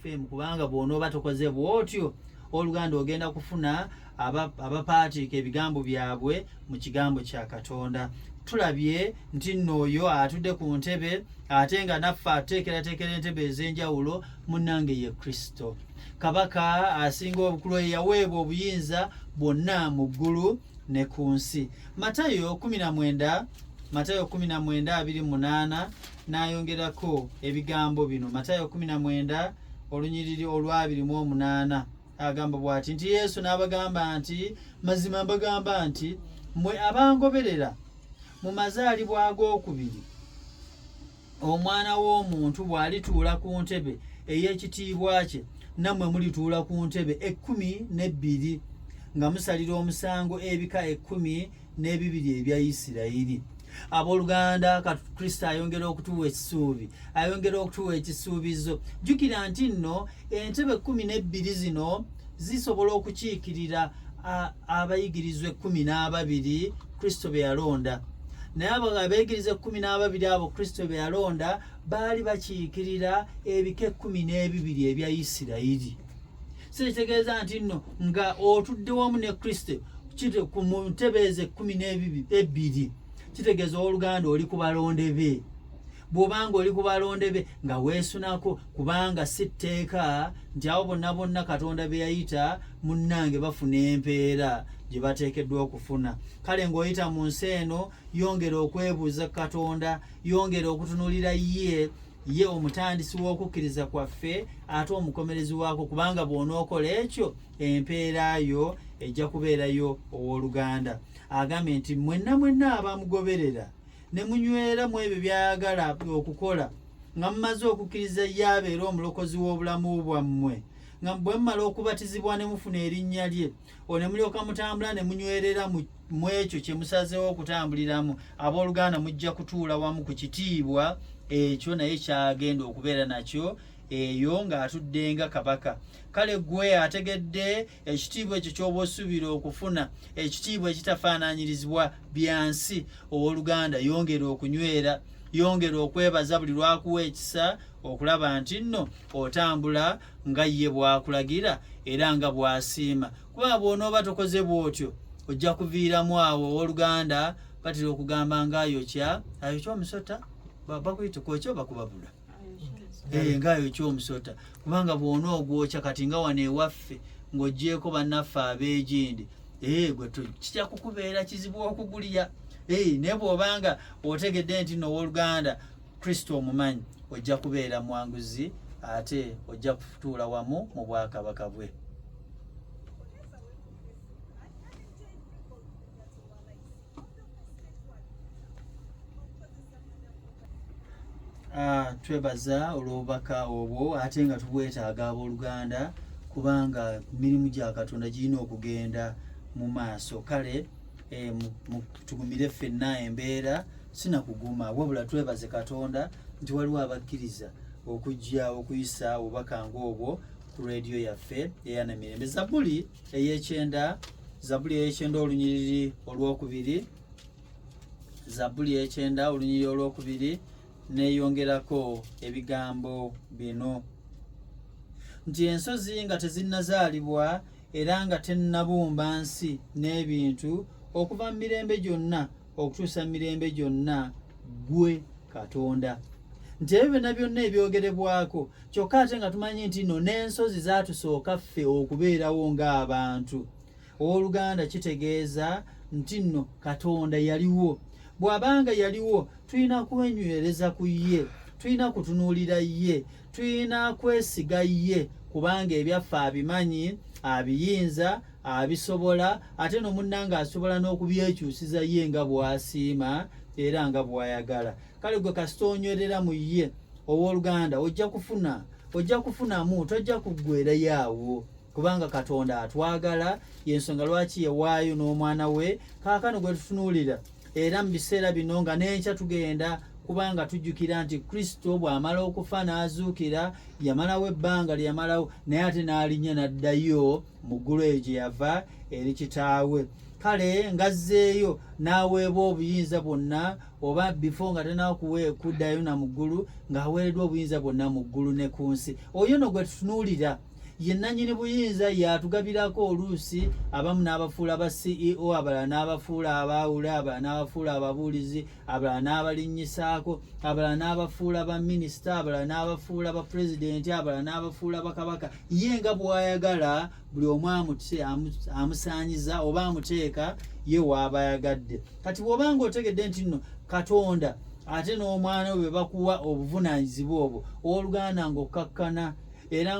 fm kubanga bwonooba tokoze bwotyo oluganda ogenda kufuna abapaatiika ebigambo byabwe mu kigambo kya katonda tulabye nti nno oyo atudde ku ntebe ate nga naffe ateekerateekera entebe ez'enjawulo munnange ye kristo kabaka asinga obukulu eyaweebwa obuyinza bwonna mu ggulu ne ku nsi matayo 19 matayo 19 28 n'ayongerako ebigambo bino matayo 19 olunyiriri olwabiri mu omunaana agamba bwati nti yesu n'abagamba nti mazima mbagamba nti mwe abangoberera mu mazaalibwa ag'okubiri omwana w'omuntu bw'alituula ku ntebe ey'ekitiibwa kye nammwe mulituula ku ntebe ekkumi n'ebbiri nga musalira omusango ebika ekkumi n'ebibiri ebya isirayiri abooluganda kristo ayongera okutuwa ekisuubi ayongera okutuwa ekisuubizo jjukira nti nno entebe kumi n'ebbiri zino zisobola okukiikirira abayigirizwa ekkumi n'ababiri kristo be yalonda naye abo abeegiriza ekkumi n'ababiri abo kristo be yalonda baali bakiikirira ebika ekkumi n'ebibiri ebya isirayiri si kitegeeza nti nno nga otudde wamu ne kristo kite ku mu ntebe ezo ekkumi n'ebbiri kitegeeza owooluganda oli ku balonde be bw'obanga oli ku balonde be nga weesunako kubanga si tteeka nti awo bonna bonna katonda be yayita munnange bafuna empeera gye bateekeddwa okufuna kale ng'oyita mu nsi eno yongera okwebuuza katonda yongera okutunulira ye ye omutandisi w'okukkiriza kwaffe ate omukomerezi waako kubanga bw'onookola ekyo empeera yo ejja kubeerayo ow'oluganda agambye nti mwenna mwenna abamugoberera ne munywera mu ebyo by'ayagala okukola nga mumaze okukkiriza ye abeera omulokozi w'obulamu bwammwe nga bwe mumala okubatizibwa ne mufuna erinnya lye olwo ne mulyoka mutambula ne munywerera mu ekyo kye musazeewo okutambuliramu abooluganda mujja kutuula wamu ku kitiibwa ekyo naye kyagenda okubeera nakyo eyo ng'atudde nga kabaka kale gwe ategedde ekitiibwa ekyo ky'oba osuubira okufuna ekitiibwa ekitafaananyirizibwa byansi ow'oluganda yongera okunywera yongera okwebaza buli lwakuwa ekisa okulaba nti nno otambula nga ye bw'akulagira era nga bw'asiima kubanga bw'onooba tokoze bw'otyo ojja kuviiramu awo owooluganda batera okugamba nga ayokya ayokya omusota bakuyita kwokya oba kubabula eh, nga ayokya omusota kubanga bw'ona ogwokya kati nga wano ewaffe ng'ogyeko bannaffe abeegindi eh, gwe kijja kukubeera kizibu okugulya eh, naye bw'obanga otegedde nti nowooluganda kristo omumanyi ojja kubeera mwanguzi ate ojja kutuula wamu mu bwakabaka bwe Ah, twebaza olwobubaka obwo ate nga tubwetaaga abooluganda kubanga mirimu gya katonda girina okugenda mu maaso kale eh, tugumire ffenna embeera sinakuguma wabula twebaze katonda nti waliwo abakkiriza okujja okuyisa obubaka ngaobwo ku rediyo yaffe eyanamirembe zabuli eyekyenda zabuli eyekyenda olunyiriri olwokubiri zabuli eyekyenda olunyiriri olwokubiri neyongerako ebigambo bino nti ensozi nga tezinnazaalibwa era nga tennabumba nsi n'ebintu okuva mu mirembe gyonna okutuusa mirembe gyonna ggwe katonda nti ebyo byonna byonna ebyogerebwako kyokka ate nga tumanyi nti no n'ensozi zaatusooka ffe okubeerawo ng'abantu ow'oluganda kitegeeza nti nno katonda yaliwo bw'abanga yaliwo tulina kwenywereza ku ye tulina kutunuulira ye tulina kwesiga ye kubanga ebyaffe abimanyi abiyinza abisobola ate no munnange asobola n'okubyekyusiza ye nga bwasiima era nga bwayagala kale gwe kasita onywerera mu ye ow'oluganda ojja kufuna ojja kufunamu tojja kuggwerayo awo kubanga katonda atwagala yensonga lwaki yewaayo n'omwana we kaakano gwe tutunuulira era mu biseera bino nga n'enkya tugenda kubanga tujjukira nti kristo bw'amala okufa n'azuukira yamalawo ebbanga lye yamalawo naye ate n'alinnya n'addayo mu ggulu eyo gye yava eri kitaawe kale ngazzeeyo n'aweebwa obuyinza bwonna oba bifo nga tenakuwe kuddayo na mu ggulu ng'aweereddwa obuyinza bwonna mu ggulu ne ku nsi oyo no gwe tutunuulira ye nannyini buyinza y'atugabirako oluusi abamu n'abafuula ba ceo abalala n'abafuula abaawule abalala n'abafuula ababuulizi abalala n'abalinnyisaako abalala n'abafuula ba minisita abalala n'abafuula ba pulezidenti abalala n'abafuula bakabaka ye nga bw'ayagala buli omu amusaanyiza oba amuteeka ye waaba ayagadde kati bw'oba nga otegedde nti nno katonda ate n'omwana we bakuwa obuvunaanyizibwa obwo ow'oluganda ng'okkakkana era